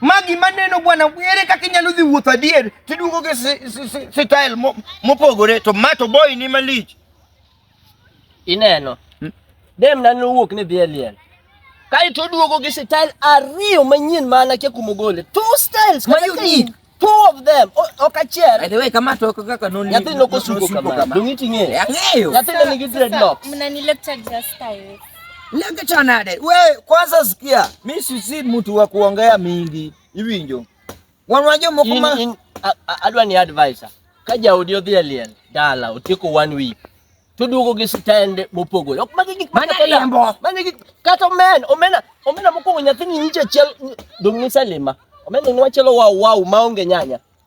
Ma gima neno bwana, ere kaka inyalo dhi wuotho adier tiduogo gi style mopogore to ma to boy ni malich. Ineno. Hmm? Dem na nowuok ni dhi e liel. Kae to duogo gi style ariyo manyien ma anakia kuma ogole. Two styles ma unique. Two of them. Ok achiel. By the way, kama to kaka noni. Nyathi nokosuko kama. Dongi ting'e. Ang'eyo. Nyathi nigi dreadlocks. Mnani lecture just style. Lenge chanade. We kwanza sikia, mimi si mtu wa kuongea mingi. Hivi njo. Wanwaje mkuma adwa ni advisor. Kaja audio dhia liel. Dala utiko one week. Tudugo gi stand mopogore. Ok magi gik mana lembo. Mana gik kata men, omena, omena mokuongo nyathini nyiche chel dong' ni salima. Omena ni wachelo wa wa maonge nyanya.